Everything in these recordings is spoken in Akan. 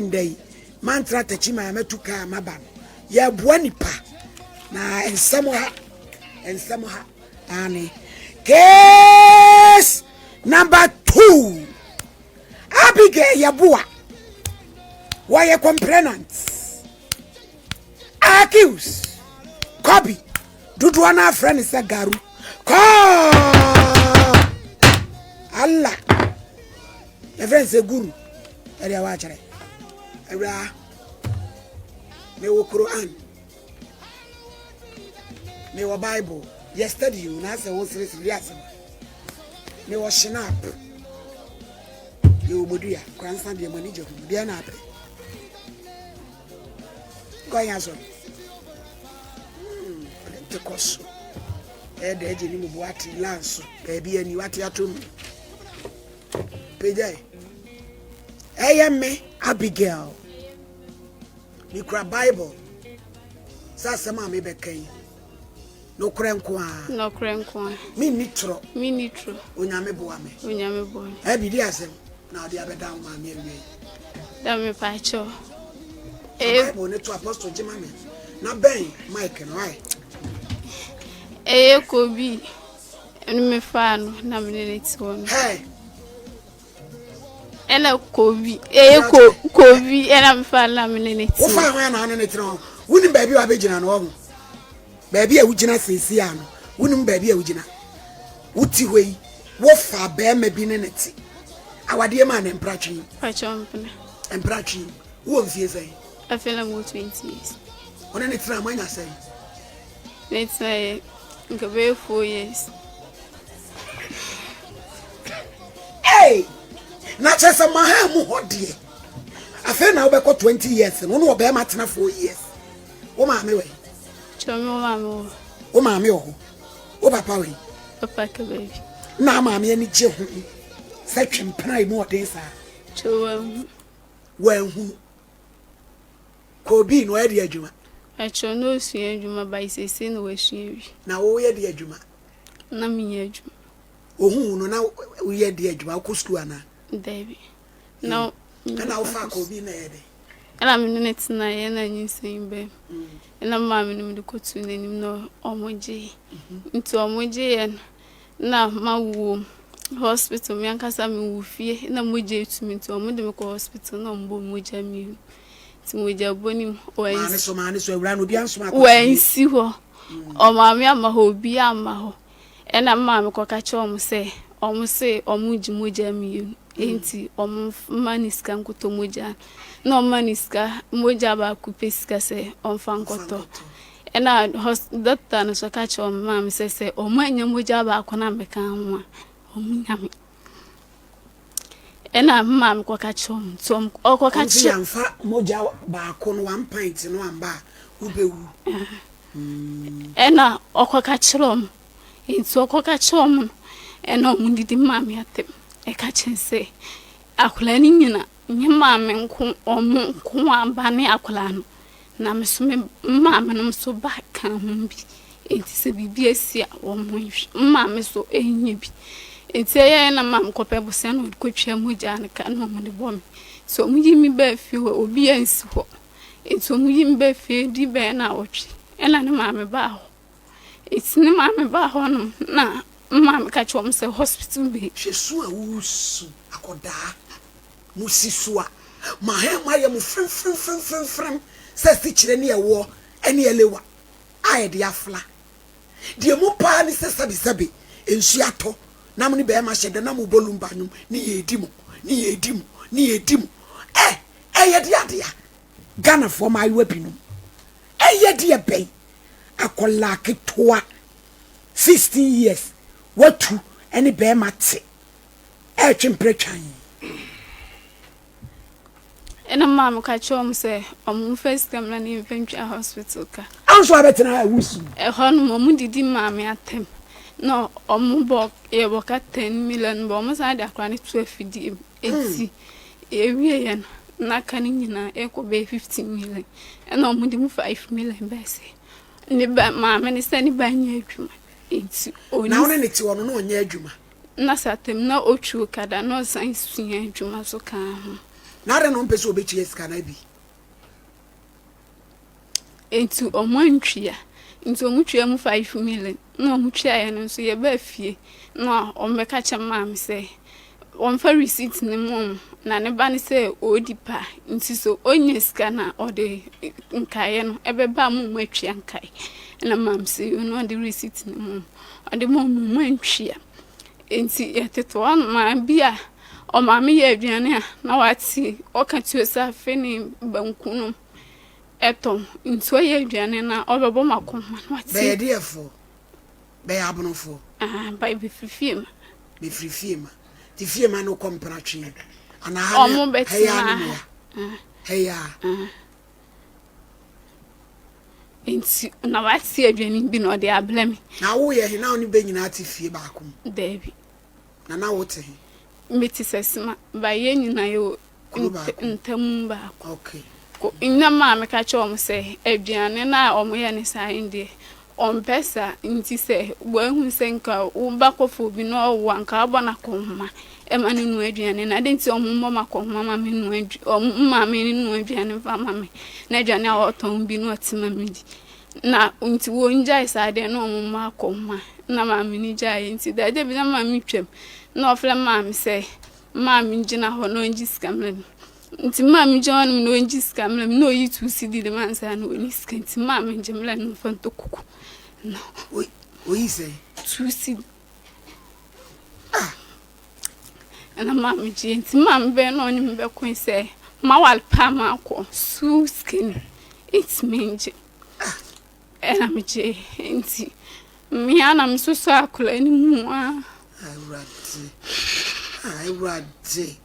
Ndɛ yi, manntra takyi maa matu kaa a maba no. Yɛboa nipa na nsɛm ha, nsɛm ha. Aane. Case number two. Abigail Yeboah. Wɔyɛ complainant. Accuse. Kobi. Dodoɔ no afrɛ ne sɛ Garu. Kɔɔ. Allah. yɛfrɛ no sɛ guru ɛdeɛ wɔakyerɛ awuraa mewɔ quran mewɔ bible yɛ study o na asɛ wo seresere yɛ asɛm mewɔ shinap mewɔ bodua koransa deɛ mani gye ho deɛ na apɛ kɔnya so hmm, ɔde nte kɔ so ɛdɛ agye ne mu boate lanso baabi ani wate atom pagyae ɛyɛ me abigail mekura bible sɛ asɛm a mebɛka yi nokorɛ nko a nokorɛ nko a menni torɔ menni torɔ onyame boa me onyame boa me ɛbi di asɛm na ɔde abɛda wo maame awie da mepaakyɛw bible ne to apostle gye ma me na bɛn mike no ae ɛyɛ kobi Ɛno mefaa no na me ne no te hɔ no ɛna kobi ɛyɛ ko kobi ɛna mefaa no na me ne no te hɔ wofaa hɔ na ɔne ne tena hɔ wonim baabi a wabɛgyina no ɔho baabi a wogyina seesie a no wonim baabi a wogyina woti hɔ yi wofa bɛrima bi ne ne te awadeɛ maa ne mpratwe mpratwe wowɔ mfie sɛn afei na mowɔ 20 years ɔne ne tena moanya sɛn Mɛtena yɛ, nka bɛyɛ four years. Hey! Na kyerɛ sɛ maha mu hɔ deɛ. Afei na wobɛkɔ twenty years no, wo ne ɔbɛrima tena four years. Wo maame wɛ? Kyerɛ me wo maame wɔ. Wo maame wɔ hɔ. Wo papa wɛ? Papa ka baabi. Na maame ani gye ho sɛ twempena emu ɔden saa. Kyerɛ wɔahunu. Wɔahunu. Kɔ obi na ɔyɛ de adwuma. Ɛkyerɛ na ɔsua adwuma by seesei na wasua awie. Na wo yɛ de adwuma. Na me nyɛ adwuma. Ɔhu wo no na wo yɛ de adwuma wokɔ sukuu anaa. Daabi na wo. Ɛna wo fa kɔ obi na ɛyɛ dɛn. Ɛna me ne no tena yɛ na nyinsɛn ba mu ɛna me maame no me de kɔ tuu n'anim na ɔmo gyee nti ɔmo gye yɛ no Nna mawo hospital, me ankasa mowɔ fie. Nna mogya etu me ntsi wɔdze me kɔ hospital na wɔbɔ me mogya mienu. Ntsi mogyabɔ no mu, wɔannsi hɔ, ɔmaa me ama hɔ, obiara amma hɔ. Nna me maame kɔka kyerɛɛ hɔn sɛ wɔse wɔregye mogya mienu ntsi wɔmma no sika nkɔtɔ mogya. Nna wɔma no sika, mogya baako pɛ sika sɛ ɔmfa nkɔtɔ. Ɛnna hɔs dɔkta no nso ka kyerɛɛ wɔn maame sɛ, sɛ wɔannya mogya baako no ammɛka ho a, wɔnnya me. Ɛnna me maame kɔka kyerɛɛ wɔn, nti wɔn ɔkɔka Wɔn sɛ kyerɛ. yɛamfa mogya baako no, one pint no amba a, wobɛwu. Ɛnna ɔkɔka kyerɛɛ wɔn, nti ɔkɔka kyerɛɛ wɔn no, ɛnna wɔdidi maa me atɛm. Ɛka kyerɛ sɛ, akwadaa no nyina Nye maame nko wɔn nko ara ba ne akwadaa no na me nso me maame nom nso ba ka ho bi nti sɛ biribi asi a wɔn hwɛ me maame nso nyɛ bi nti ɛyɛ na maame kɔpɛ bosea na wɔde kɔtwa mogya no ka na wɔn de bɔ me nti wɔn yi me baa fie hɔ obi ansi hɔ nti wɔn yi me baa fie di bɛyɛ na awɔtwe ɛna ne maame baa hɔ. Ntsi ne maame baa hɔ nom na me maame ka kyerɛɛ wɔn sɛ hospital bi. Hwɛ su a woresu akɔdaa mo si su a ma hɛn mo ayɛ mo fremfremfremfremfrem sɛ asikyerɛ ne ɛwoɔ ne ɛlewa a yɛde afla. Deɛ mu paa ne sɛ sɛbesɛbe nsuo atɔ na mo ne bɛɛma hyɛ da na mo bɔ lumba nwom ne yɛredi mo ne yɛredi mo ne yɛredi mo ɛ ɛyɛ deɛ adeɛ a Ghanafoɔ mmaayewa binom ɛyɛ deɛ bɛn akwadaa ketewa sixteen years watu ɛne bɛrima te ɛretwe mpere twan. ɛna maa me ka kyerɛ wɔn sɛ wɔn mfa sika mu na ne mfa ntwa hospital ka. anso abɛtena ɛwo si. ɛhɔ no wɔn didi maa me atɛm na wɔn bɔ yɛbɔ ka ten million bɔ wɔn san de akora no to afidie mu. Enti yɛwieeɛ no, na aka no nyinaa ɛrekɔ bɛyɛ fifteen million. Ɛna wɔn de mu five million bɛyɛ sɛ ne ba maame ne sɛ ne ba nyɛ adwuma. Enti oni. Na wɔn ne te wɔn na ɔnyɛ adwuma. Na sɛ atam na otwi okada na ɔsan sua adwuma so kaa ho. Na adɛn na ɔmpɛ sɛ ɔbɛtua sika no abi? Nti ɔmo antwea nti ɔmo twea mu five million na ɔmo twea yɛ no nso yɛ baa fie na ɔmo bɛka kyɛ maame sɛ wɔn fa receipt ne mu ɔmo na ne ba ne sɛ ɔredi pa nti so ɔnya sika na ɔde nkaeɛ no ɛbɛba mo ɔmo atwea nkae ɛna maame sɛ yɛ no ɔde receipt ne mu ɔmo ɔde ma ɔmo ɔmo antwea. Enti yɛtete hɔ nom a, bi a ɔmaame yɛ aduane a na wate ɔka tuo sɛ afe ne banku nom tɔ ho. Nti ɔyɛ aduane no a ɔbɛbɔ ma kɔm ma no ate. Bɛyɛ deɛfoɔ? Bɛyɛ abonofoɔ? Aha, by bɛfiri fie ma. Bɛfiri fie ma. Nti fie ma no kɔm pena twe anaa ha ne ha yi ara ne mo ya? Ha yi ara. nti na wate aduane bi na ɔde abrɛ me na woyɛ he na wo ne bɛ nyinaa te fie baako mu daabi na na wote he mete sɛ sima ba yɛ nyinaa yɛwɔ Kuro baako. ntamu baako okay. ko nnam a meka kyerɛ wɔn sɛ aduane no a wɔyɛ ne saa he deɛ Ɔmpɛ saa nti sɛ wahu sɛ nka wo ba kɔfa obi na ɔwo a nka wabɔ no akɔnhoma ma no noa aduane no adɛn nti a ɔmo mmɔ me akɔnhoma ma me nnoa ɔmo mma me nnoa aduane mfa mma me na aduane a ɔtɔn bi na ɔte ma me di na nti wɔngyae saa deɛ na ɔmo mmɔ akɔnhoma na maame no gyaeɛ nti da agya bi na maame twam na ɔfrɛ maame sɛ maame gyina hɔ na ɔngye sika ma no Nti maa me gye ɔnom na ɔngye sika mmerɛ me na ɔyi two cedi de ma nsa na ɔni sika nti maa me gye mmerɛ no mfa ntɔ kuku na ɔyi sɛ two cedi ah ɛna maa me gye nti maa me bɛn na ɔne me bɛko sɛ ma wale paa ma akɔ so sika ni nti me ngye ah. ɛna me gye nti mmea na me soso akora ne mu a awurade awurade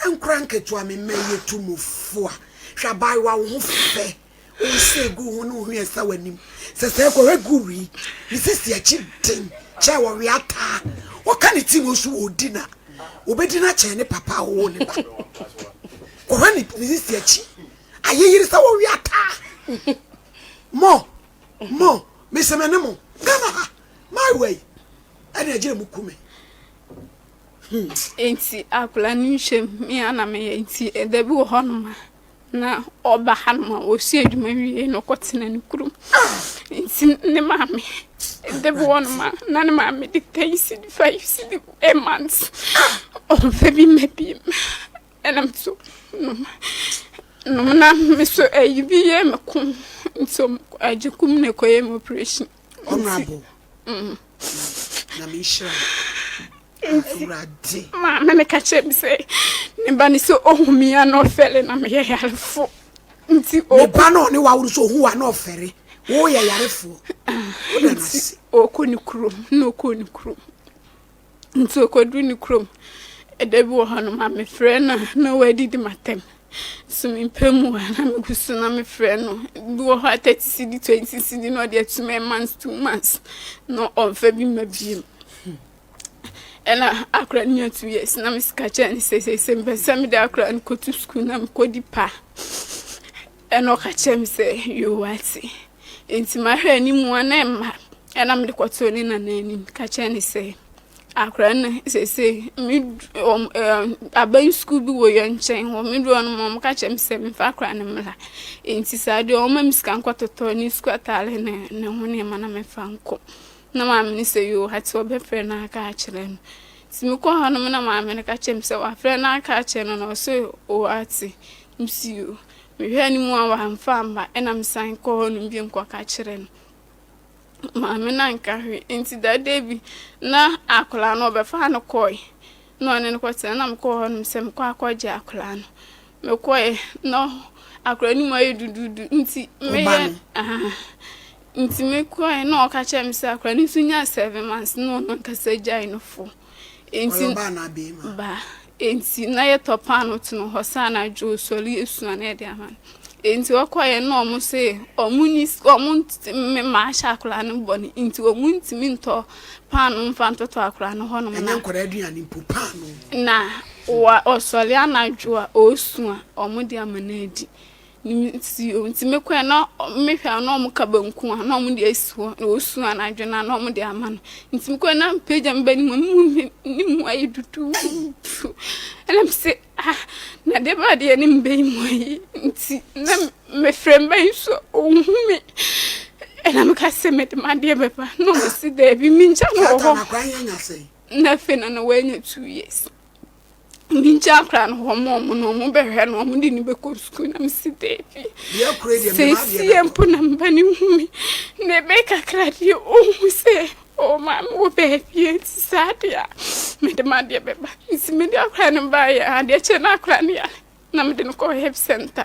Nkora nketewa, me mma yi, etu mo fo a, hwɛ abaayewa wo ho fɛ, wo nsa a egu wo ho ne wo hwene a ɛsa w'anim. Sɛ sɛɛ kɔ, egu wi, ne sisi akyi den kyɛn wɔwe ataa. Wɔka ne ti wɔ su wɔ odi na wobedi no akyɛn ne papa a ɔwoo ne ba. Kɔhwɛ ne ne sisi akyi, ayeyere sɛ wɔwe ataa. Mo, mo, mese me ne mo, Ghana ha, maayewa yi, ɛna agyina mu ku me. Enti akwadaa no nhwɛ mu, me ara na meyɛ. Enti da bi wɔ hɔnom a, na ɔba hanom a, ɔsua adwuma wie na ɔkɔtena ne kurom. Enti ne maame, da bi wɔ hɔnom a, na ne maame de ten cedi, five cedi rema no sɛ ɔmfa bi mmɛ bi mmra. Ɛnna me nso nom nom na me nso ayi bi yɛɛ me kɔn. Nti wɔkɔ agyekum na ɛkɔyɛɛ me oprehyɛn. Honorable. Mm. Na me nhyira. Awurade. Ma me me ka kyerɛ me sɛ ne ba ne sɛ ohu me a na ɔfɛre na meyɛ yarefo. Nti o. Ne ba na ɔne waworo so ohu a na ɔfɛre. Woyɛ yarefoɔ. Woda no ase. Ɔkɔ ne kurom na ɔkɔ ne kurom. Nti ɔkɔduru ne kurom Da bi wɔ hɔnom a mefrɛ no a na wadidi m'atɛm So mempɛ mu a na megu so na mefrɛ no Bi wɔ hɔ a thirty cedi twenty cedi na ɔde atum a months two months na ɔmfa bi mma biem ɛna akora no nya two years na mesika kyerɛ ne sɛ sɛ sɛ mpɛ sɛ mede akora no kɔto sukuu na mekɔdi pa Ɛnna ɔka kyerɛɛ me sɛ, Yehoiakyin, enti mahwɛ anim a na ɛmma. Ɛnna mede kɔtoo ne nana anim ka kyerɛɛ no sɛ, Akora no, seesei medu wɔn ɛɛ aban sukuu bi wɔ yɛn nkyɛn hɔ. Medu hɔ no ma wɔka kyerɛ me sɛ memfa akora no mmra. Enti saa deɛ wɔma me sika nkɔtotɔ ne sukuu ataare ne ne ho nneɛma na memfa nkɔ. Na maame no sɛ, Yehoiakyin, wɔbɛfrɛ no aka akyerɛ no. Nti mekɔɔ hɔ nom na maame no ka kyerɛɛ me sɛ wɔafrɛ no aka akyerɛ no na ɔse, Yehoiakyin. Mesii o. Mehwɛɛ no mu a wamfa amma ɛna mesan kɔɔ hɔnom bio kɔka kyerɛɛ no. Maame no anka hwee nti da da bi na akwadaa no ɔbɛfaa no kɔɔe na ɔne no kɔtena na mekɔɔ hɔnom sɛ mekɔ akɔgye akwadaa no. Mekɔɛ na akwadaa no mu ayɛ duduudu nti meyɛ nti mekɔɛ na ɔka kyerɛ me sɛ akwadaa no nso nyaa seven months na ɔno ankasa gyae no fo. Enti, Ɔyɛ ɔbaa anaa beema? Ba. Enti, na yɛtɔ paano tene hɔ saa na adwo osɔre esua na yɛde ama no. Enti, ɔkɔeɛ na wɔn se wɔn ni wɔn ntumi ma ahyɛ akwadaa no bɔ ne nti wɔn ntumi ntɔ paano mfa ntɔtɔ akwadaa no hɔnom na. Ɛnyɛ nkwadaa aduane mpo, paano. Na wa ɔsɔre anadwo a ɔresua wɔn de ama no adi. Nsuo nti me kɔɛ na me hwɛ a na ɔmo ka banku a na ɔmo de asi hɔ na osu anadwo na na ɔmo de ama no nti me kɔɛ na me pagya me ba ne mu me hu ne ne mu ayɛ duduudu ɛna me se ah na deɛ ba deɛ ne mba yi mu ayɛ nti na me frɛ mba yi so ɔnhu me ɛna me ka sɛ me de madeɛ bɛba na ɔmo se daabi me ngya no wɔ hɔ na afei na na wanya two years. me gya koraa no wɔn a wɔn no wɔn bɛhwɛ no wɔn de ne bɛkɔ sukuu na mesi daabi seesie mpo na mba ne hu me na ɛbɛ kakra deɛ ɔhu sɛ ɔwɔ maame wɔ baabi nti saa adeɛ a mede ma adeɛ bɛba nti mede akora no baeɛ adeɛ kyɛ no akora no yare na mede no kɔ help center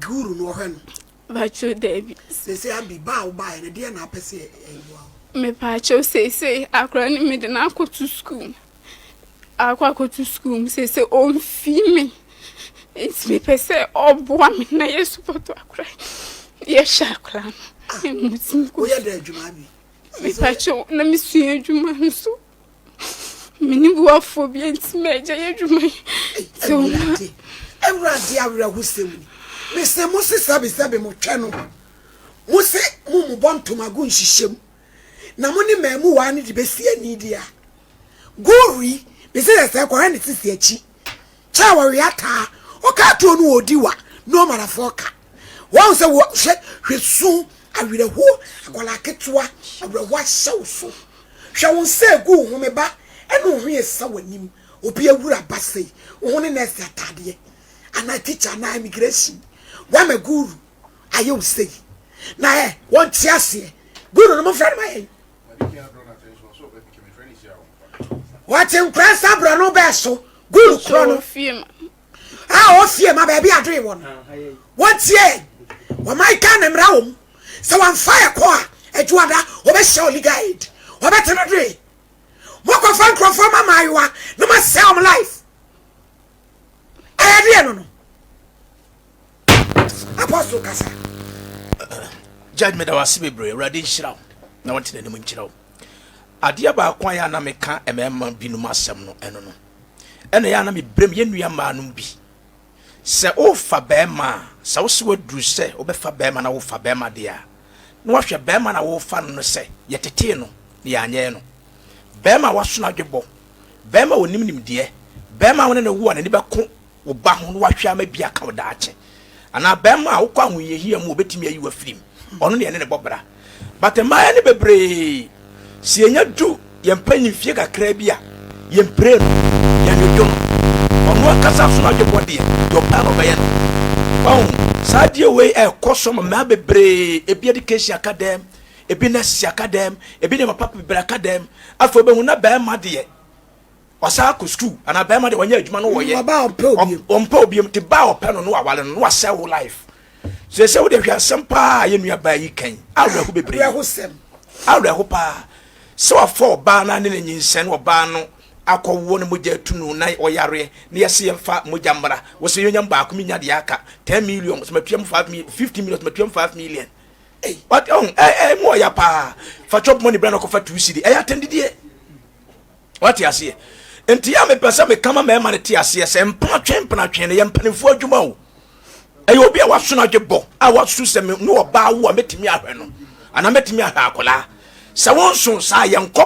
Guru no ɔhwɛ no. Bɛkyɛw daabi. Sese abi ba a wobaeɛ no deɛ na apɛ sɛ ɛboa wo. Mepaakyɛw sese akora no mede no akɔto sukuu mu akɔ akɔto sukuu mu sese ɔmfi me nti mepɛ sɛ ɔboa me na yɛ sopɔtɔ akora yɛhwɛ akora no. Ah, woyɛ dɛ adwuma bi. Mepaakyɛw na mesua adwuma nso. mene boafoɔ bi nti magya yɛ adwuma yi sɛ ɔma awurade awerɛhosɛm ni mese mo se sɛbesɛbe motwɛ no mo se mo mobɔ ntomago nhyehyɛm na mo ne maamu waa no de bɛsi ani deɛ a gori mese sɛ sɛ kɔhwɛ ne sisi akyi kyɛ a wɔwe ataa ɔka atuo no ɔdi wa ne ɔmarafoɔ ka wɔn sɛ wɔ hwɛ hwɛ su awerɛhoɔ akwadaa ketewa awerɛhoɔ ahyɛ wo so hwɛ wo nsa egu wo ho me ba ɛne wo ho yɛ sa w'anim obi awura ba sei wo ho ne nɛɛse ataadeɛ anaa tikya anaa immigration wama guru ayɛ wo sei na ɛ wɔn te aseɛ guru no mo fɛ no ma yɛn wɔte nkora nsa borɔ no bɛɛ so gold korɔ no a ɔfie ma baabi adoe wɔ no wɔtie wɔman ka ne mmara wɔ mu sɛ wɔmfa ɛkɔ a adwuada wɔbɛhyɛ wɔ legal aid wɔbɛte no doe mokɔfa nkurɔfoɔ ma maayewa na masɛ wɔn life ɛyɛ deɛ no no apostle kasa judge meda wo ase bebree awurade nhyira wo na wɔte n'anim nkyerɛ wo adeɛ baako a yɛ ana meka mmarima binom asɛm no ɛno no ɛna yɛ ana mebrɛm yɛ nnua mmaa no bi sɛ wofa bɛrima a sɛ wo se waduru sɛ wobɛfa bɛrima na wofa bɛrima deɛ a na wahwɛ bɛrima na wofa no no sɛ yɛtetee no na yɛanyɛɛ no bɛrima a wasono adwebɔ bɛrima a ɔnim nimdeɛ bɛrima a wo ne no wo a n'ani bɛko wo ba ho na wahwɛ ama bi aka wo daakye. Anaa barima a wokɔ ahohiahia mu obetumi ayi w'afirim. Ɔno ne ɛne ne bɔ bra. But mmaayɛ no bebree, sɛ yɛnya du yɛn mpanyin mfie kakraa bi a, yɛn mpire no, yɛn dwodwo no. Ɔno ankasa so n'adwebɔ deɛ, deɛ ɔpɛ na ɔbɛyɛ no. Ɔho, saa adeɛ wei ɛrekɔ so ma mmaa bebree, ebi education aka dɛm, ebi nurses aka dɛm, ebi nneɛma papa bebree aka dɛm. Afei wobɛhu na barima deɛ, Ɔsan kɔ sukuu anaa bɛrima de wɔnyɛ adwuma no wɔyɛ. Ɔbaa ɔmpɛ obiem. Ɔmpɛ obiem te baa ɔpɛ no no awale no no asɛ wo life. Sese wo de hwɛ asɛm paa yɛ nua baa yi kan. Awerɛho bebree. Awerɛho sɛm. Awerɛho paa. Sɛ wafa ɔbaa na ne ne nyinsɛn no ɔbaa no akɔ wo no mogya atu no na ɔyareɛ na yɛse yɛmfa mogya mmra. Wo se yɛnya baako menya deɛ aka 10 million sɛ matua mu 5 million 15 million sɛ matua mu 5 million. What oh eh eh mu ɔya paa. Fa chop money bra na kɔfa 2 cedi. Ɛyɛ atɛndidie. wate aseɛ nti yɛ a mepɛ sɛ meka ma mmarima no te aseɛ sɛ mpenatwe mpenatwe no yɛ mpanimfoɔ adwuma o ɛyɛ obi a wasono adwe bɔ a wasu sɛ ne ɔbaa wo a mɛtumi ahwɛ no anaa mɛtumi ahwɛ akwadaa sɛ wonso saa yɛnkɔ